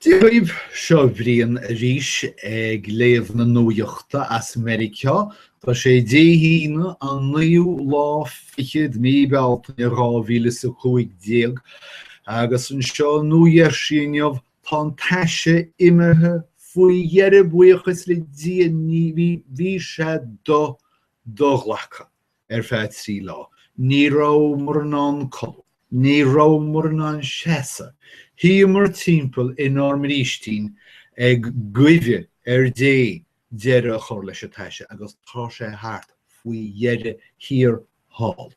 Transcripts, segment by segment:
Dia daoibh seo Brian arís ag léamh na nuaíochta as Meiriceá. Tá sé Dé hAoine an naoú lá fichead Mí Bealtaine dhá mhíle is a cúig déag agus anseo i Nua Gheirsí inniu tá an taise imithe faoi dheireadh buíochas le Dia bhí sé do do-ghlactha. ar feadh trí lá. Ní rabhamar in ann codladh. Ní rabhamar in ann seasamh. Shuíomar timpeall inár mbrístín ag guí ar Dé deireadh a chur leis an taise agus tá sé thart faoi dheireadh thiar thall.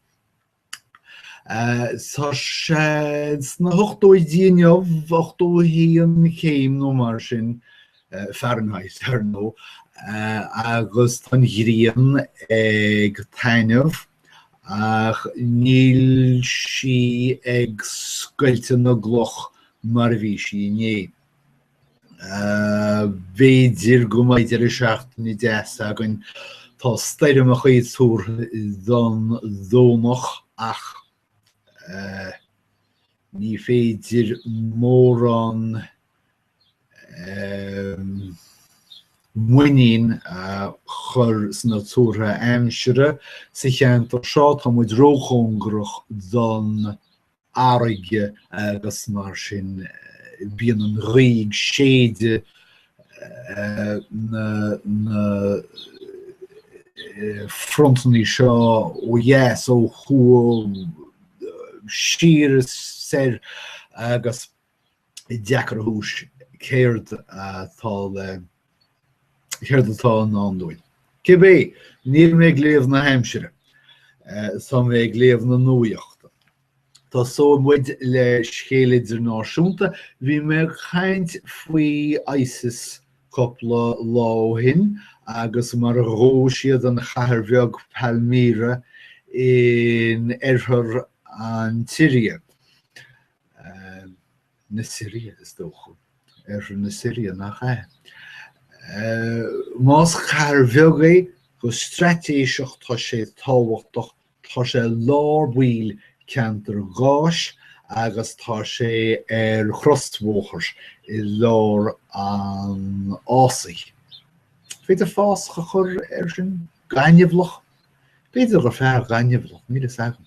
Tá sé sna hochtóidí inniu, 81 céim nó mar sin, Fahrenheit, ar ndóigh, agus tá an ghrian ag taitneamh ach níl sí ag scoilteadh na gcloch mar a bhí sí inné. B'fhéidir go mbeidh deireadh seachtaine deas againn, tá stoirmeacha á dtuar don Domhnach ach ní féidir mórán muinín a chur sna tuartha aimsire sa cheantar seo. Tá muid róchóngarach don fharraige agus mar sin bíonn an ghaoth ag séideadh na frontanna seo ó dheas ó thuaidh siar is soir agus is deacair a thuiscint céard atá le céard atá i ndán dúinn. Cibé, níl mé ag léamh na haimsire, tá mé ag léamh na nuaíochta. Tosóidh muid le scéal idirnáisiúnta, bhí mé ag caint faoi ISIS cúpla lá ó shin agus mar a ghabh siad an chathair bheag Palmyra in oirthear an tSiria. na Siria, is dócha. Oirthear na Siria nach é. Más chathair bheag é go straitéiseach tá sé tábhachtach, tá sé lár báill ceantar gáis agus tá sé ar chrosbhóthar i lár an fhásaigh. B'fhéidir fásach a chur ar sin gaineamhlach, b'fhéidir gur fearr gaineamhlach, níl a fhios agam.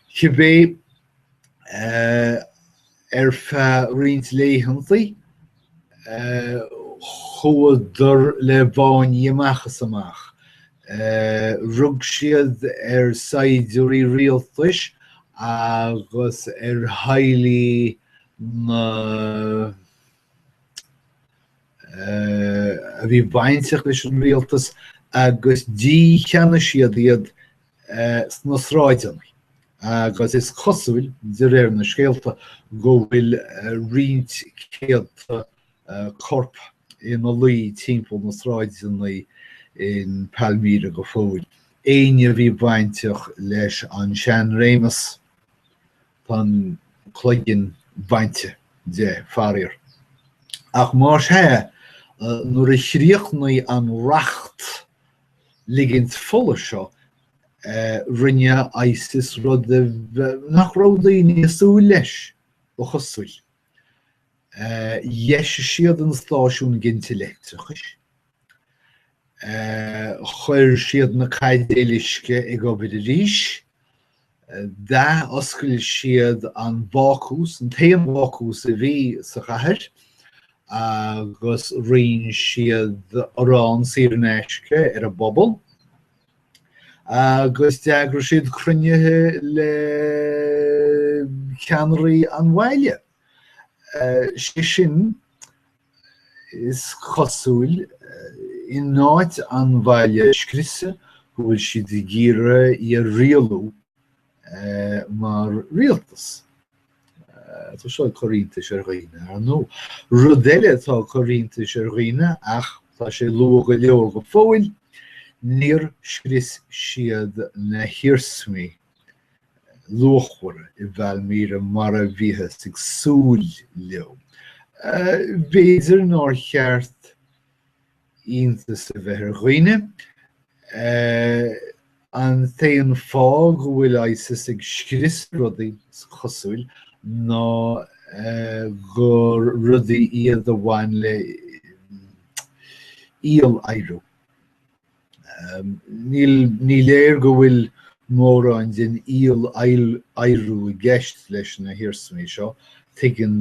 Cibé Ar feadh roinnt laethanta, chuadar le báiní amach is amach. Rug siad ar saighdiúirí rialtais agus ar theaghlaigh na a bhí bainteach leis an rialtas agus dícheannaigh siad iad sna sráideanna agus is cosúil, de réir na scéalta, go bhfuil roinnt céadta corp ina luí timpeall na sráideanna in Palmyra go fóill. Éinne a bhí bainteach leis an seanréimeas, tá an cloigeann bainte de, faraor. Ach mar sin, nuair a chríochnaigh an racht ligint fola seo rinne ISIS rud nach raibh daoine ag súil leis, ba chosúil. Dheis siad an stáisiún ginte leictreachais, chuir siad na caidéil uisce ag obair arís, D'athoscail siad an bácús, an t-aon bhácús a bhí sa chathair, agus roinn siad arán saor in aisce ar an bpobal, agus d'eagraigh siad cruinnithe le ceannairí an bhaile. Sé sin, is cosúil, in áit an bhaile a scriosadh, go bhfuil siad ag iarraidh í a rialú mar rialtas. Tá seo ag cur iontais ar dhaoine, ar ndóigh. Rud eile atá ag cur iontais ar dhaoine, ach tá sé luath go leor go fóill, níor scrios siad na hiarsmaí luachmhara i bPalmyra mar a bhíothas ag súil leo. B'fhéidir nár cheart iontas a bheith ar dhaoine, an t-aon fáth go bhfuil ISIS ag scrios rudaí, is cosúil, ná gur rudaí iad a bhain le íoladhradh. Ní léir go bhfuil mórán den íoladhradh i gceist leis na hiarsmaí seo. Tuigeann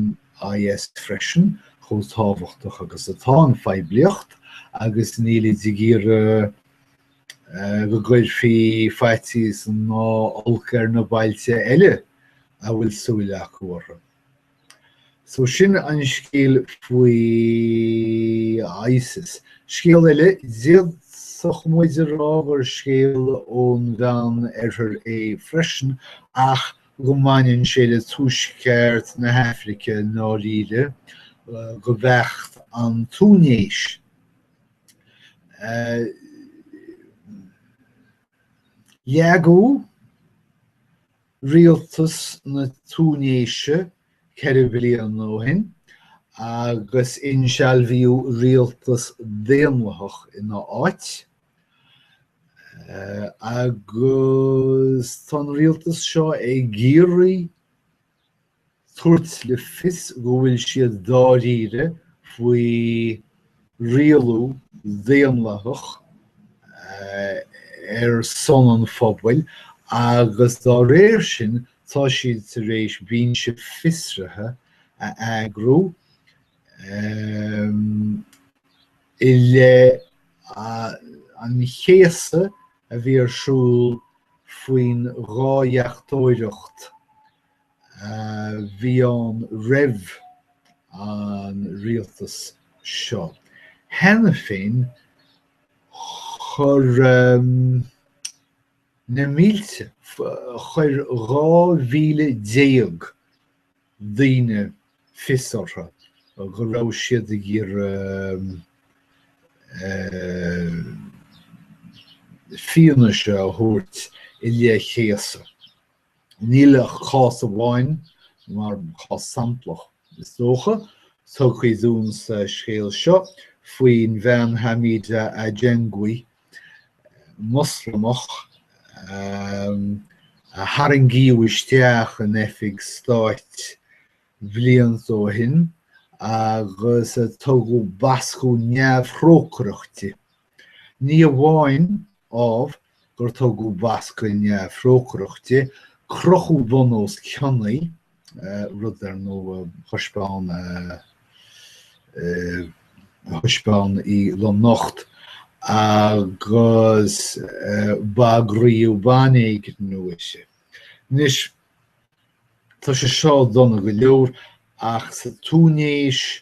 IS freisin chomh tábhachtach agus atá an phoiblíocht agus nílid ag iarraidh go gcuirfí faitíos ná olc ar na bailte eile a bhfuil súil acu orthu. So sin an scéal faoi ISIS. Scéal eile, d'fhéadfadh muid a rá gur scéal ón Mheán Oirthear é freisin ach go mbaineann sé le tuaisceart na hAfraice i ndáiríre, go beacht an Túinéis. Leagadh Rialtas na Túinéise ceithre bliana ó shin agus insealbhaíodh rialtas daonlathach ina áit agus tá an rialtas seo ag iarraidh thabhairt le fios go bhfuil siad dáiríre faoi rialú daonlathach ar son an phobail agus dá réir sin tá siad tar éis binse fiosraithe a eagrú i leith an chéasadh a bhí ar siúl faoin dhá dheachtóireacht a bhí ann roimh an rialtas seo. Cheana féin, chuir na mílte, chuir 12,000 daoine fios orthu go raibh siad ag iarraidh fianaise a thabhairt i leith céasadh. Níl ach cás amháin mar chás samplach, is dócha, tugtha dúinn sa scéal seo faoin bhean Hamida Ajengwi, Moslamach a tharraingíodh isteach in oifig stáit blianta ó shin agus a tugadh bascadh neamhthrócaireach di. Ní amháin, ámh, gur tugadh bascadh neamhthrócaireach di, crochadh bun os cionn í, rud, ar ndóigh, a thaispeáin a thaispeáin í lomnocht, agus bagraíodh banéigniú uirthi. Anois, tá sé seo dona go leor, ach sa Túinéis,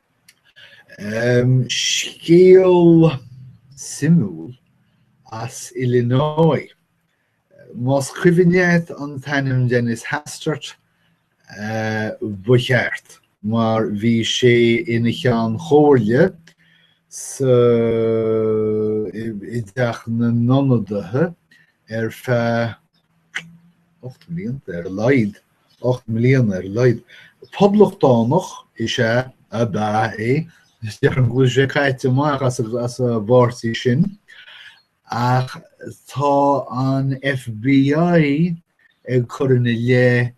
Scéal suimiúil as Illinois. Más cuimhin leat an t-ainm Dennis Hastert, ba cheart, mar bhí sé ina Cheann Comhairle i dTeach na nIonadaithe ar feadh ocht mblianta ar a laghad. 8 mbliana ar a laghad. Poblachtánach is ea ab ea é, is dócha go bhfuil sé caite amach as as an bpáirtí sin, ach tá an FBI ag cur ina leith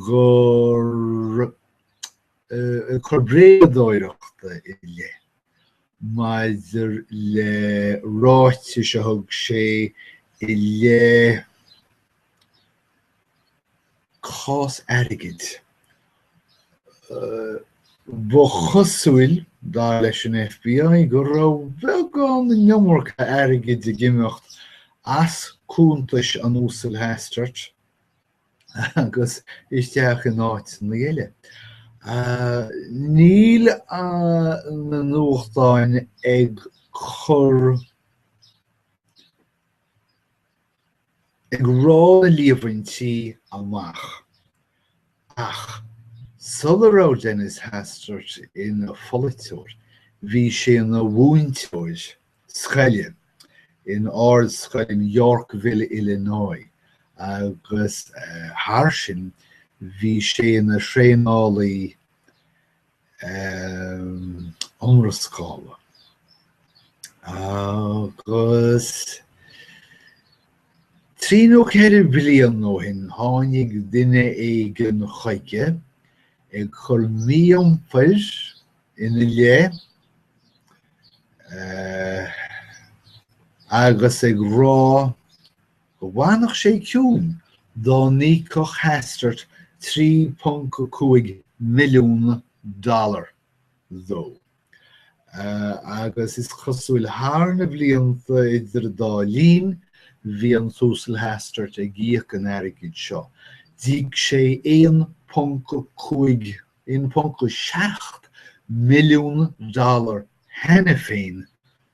gur coir bréadóireachta i leith maidir le ráitis a thug sé i leith cás airgid. Ba chosúil, dar leis an FBI, go raibh beagán an iomarca airgid ag imeacht as cuntais an Uasail Hastert agus isteach in áiteanna eile. Níl na nuachtáin ag cur ag rá na líomhaintí amach, ach sula raibh Dennis Hastert ina pholaiteoir bhí sé ina mhúinteoir scoile in Ardscoil Yorkville, Illinois, agus thar sin bhí sé ina thraenálaí iomrascála agus trí nó ceithre bliana ó shin tháinig duine éigin chuige ag cur mí-iompair ina leith agus ag rá go bhfanfadh sé ciúin dá n-íocfadh Hastert 3.5 milliún dollar dó agus is cosúil thar na blianta idir an dá linn bhí an tUasal Hastert ag íoc an airgid seo. D'íoc sé 1.5, 1.7 milliún dollar cheana féin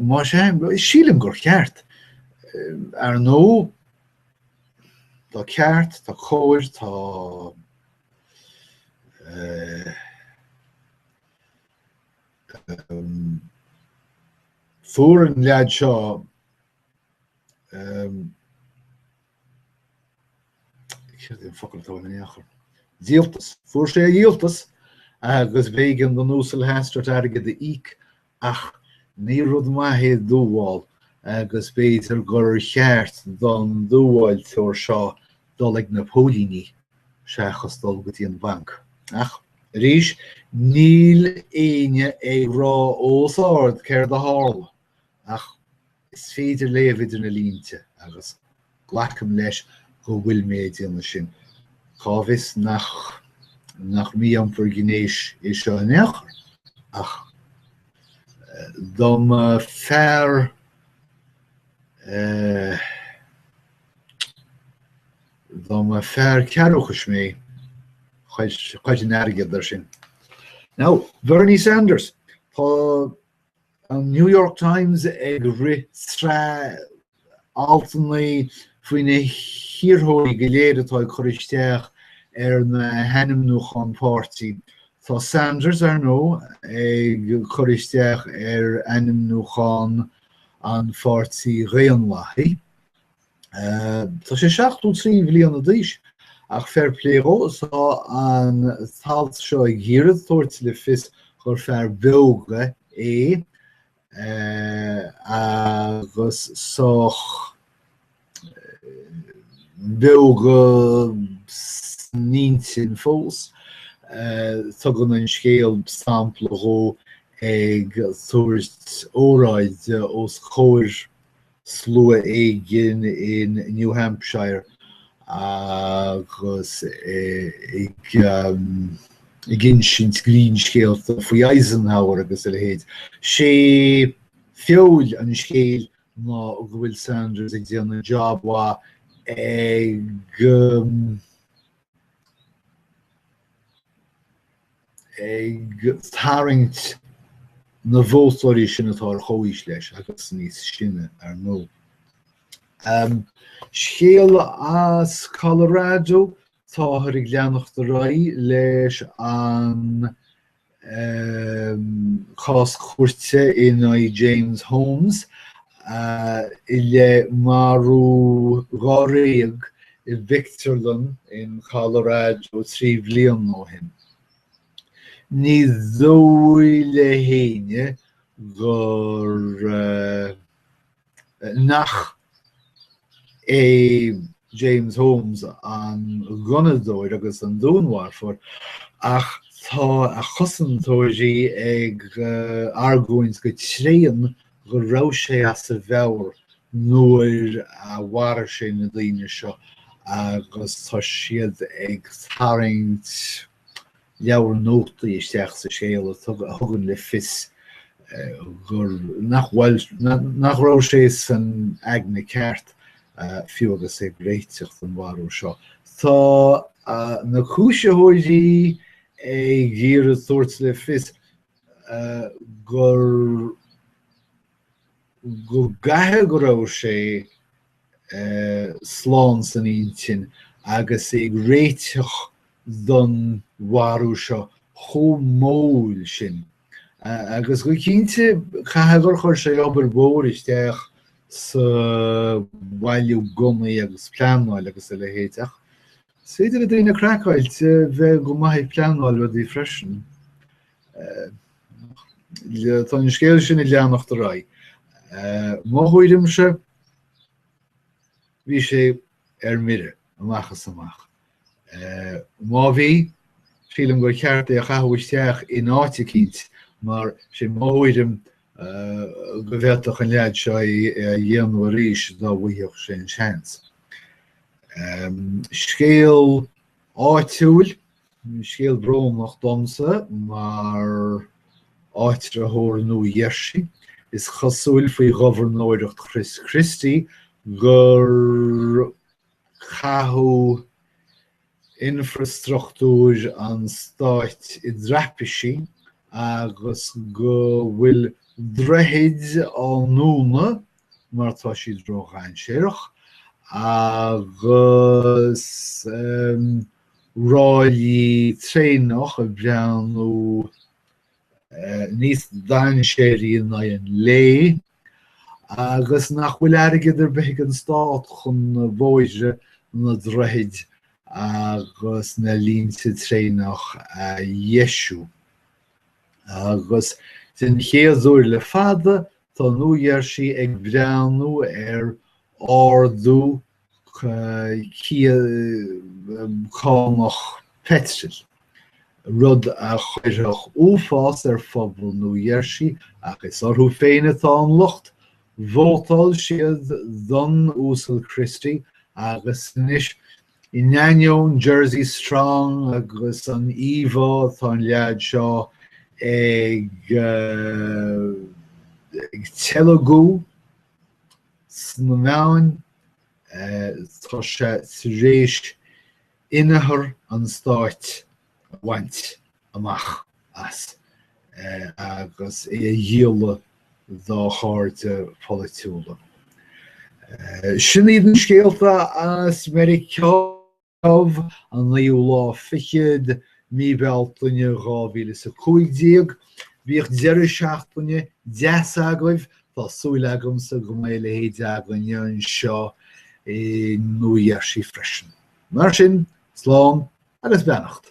má sé sílim gur cheart ar nó Tá ceart tá chóir tá eh, ehm, fuair an leaid seo ehm, díoltas. Fuair sé a dhíoltas agus b'éigean don Uasal Hastert airgead a íoc ach ní rud maith é dúmhál agus b'fhéidir gur cheart don dúmháltóir seo dul ag na póilíní seachas dul go dtí an banc. Ach, arís, níl éinne ag rá os ard céard a tharla. ach is féidir leat léamh idir na línte agus glacaim leis go bhfuil mé ag déanamh ansin. Cá bhfios nach nach mí-iompar gnéis é seo in aon chor, ach dá mba fear dá mba fear cearrbhachais mé chuirfinn airgead ar sin. Now, Bernie Sanders, Tá An New York Times ag rith sraith altanna faoi na hiarrthóirí go léir atá ag cur isteach ar na hainmniúcháin páirtí. Tá Sanders, ar ndóigh, ag cur isteach ar ainmniúchán an Pháirtí Dhaonlathaigh Tá sé 73 bhliana d'aois ach fair play dhó, tá an t-alt seo ag iarraidh tabhairt le fios gur fear beoga é agus sách beoga san intinn fós. Tugann an scéal sampla dhó ag tabhairt óráide os comhair slua éigin in New Hampshire agus ag insint greannscéalta faoi Eisenhower agus a leithéid. Sé feoil an scéal ná go bhfuil Sanders ag déanamh job mhaith ag um, ag tarraingt na vótóirí sin atá ar chomhaois leis agus níos sine, ar ndóigh. Scéal as Colorado, táthar ag leanacht ar aghaidh leis an chás cúirte in aghaidh James Holmes i leith marú dháréag i bpictiúrlann in Colorado trí bliana ó shin. Ní dóigh le héinne gur nach é James Holmes an gunnadóir agus an dúnmharfóir ach tá a chosantóirí ag argóint go tréan go raibh sé as a mheabhair nuair a mharaigh sé na daoine seo agus tá siad ag tarraingt leabhar nótaí isteach sa scéal a thugann le fios gur nach nach raibh sé san aigne ceart fiú agus é ag réiteach don mharú seo. Tá na cúisitheoirí ag iarraidh tabhairt le fios gur go gcaithfidh go raibh sé slán san intinn agus é ag réiteach don mharú seo chomh mall sin agus go cinnte caithfidh gur chuir sé obair mhór isteach sa bhailiú gunnaí agus pleanáil agus a leithéid ach is féidir le daoine craiceáilte bheith go maith ag pleanáil rudaí freisin. Tá an scéal sin ag leanacht ar aghaidh. Mo thuairimse, bhí sé ar mire amach is amach. Má bhí, sílim gur cheart é a chaitheamh isteach in áit eicínt mar is é mo thuairim go bhféadfadh an leaid seo é a dhéanamh arís dá bhfuighfeadh sé an seans. Scéal áitiúil Scéal brónach domsa mar áitritheoir Nua Gheirsí, is cosúil faoi ghobharnóireacht Chris Christie gur caitheadh infreastruchtúr an stáit i dtraipisí agus go bhfuil droichid á ndúnadh mar tá siad ródhainséarach agus ráillí traenach ag breathnú níos dainséaraí in aghaidh an lae agus nach bhfuil airgead ar bith ag an Stát chun na bóithre, na droichid agus na línte traenach a dheisiú. Agus den chéad uair le fada, tá Nua-Gheirsí ag breathnú ar ardú cánach peitril, rud a chuirfeadh uafás ar phobal Nua-Gheirsí ach is orthu féin atá an locht, vótáil siad don Uasal Christie agus anois, in ainneoin Jersey Strong agus an íomhá atá an leaid seo ag ag teilgeadh, sna meáin, tá sé tar éis inneachar an Stáit a bhaint amach as agus é a dhíoladh dá chairde polaitiúla. Sin iad na scéalta as Meiriceá. Dubh, an naoú lá fichead, mí Bhealtaine 2015. Bíodh deireadh seachtaine deas agaibh, tá súil agamsa go mbeidh a leithéid againne anseo i Nua Gheirsí freisin. Mar sin, slán agus beannacht.